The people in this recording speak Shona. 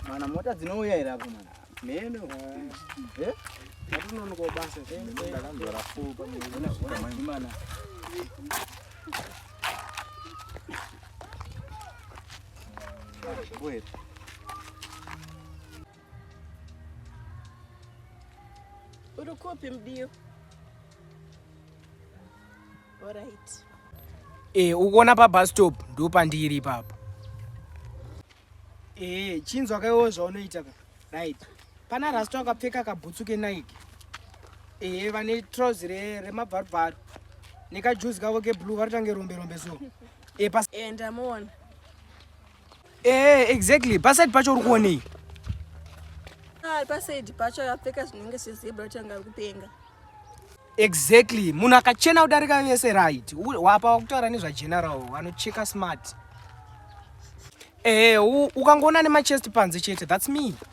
Mana mota dzinouya here apo mana? Neno. Eh? Hatunono kwa basa. Ndakanzwa rafu pa mwana. Mana. Wait. Uri kupi mdiyo? Alright. Eh, ukuona pa bus stop ndo pandiri ipapo. Eh, chinzwa kaiwo zvaunoita ka. Right. Pana rasta akapfeka kabhutsu ke Nike. Eh, vane trouse re remabvarubvaru. Neka juice kavo ke blue varitange rombe rombe so. Eh, pas. Eh, ndamuona. Eh, exactly. Paside pacho uri kuonei? Ah, paside pacho akapfeka zvinenge zvezebra kuti anga kupenga. Exactly. Munhu akachena kudarika vese right. Wapa wakutaura nezva general vanocheka smart. Eh, ukangoona nema chest panze chete. That's me.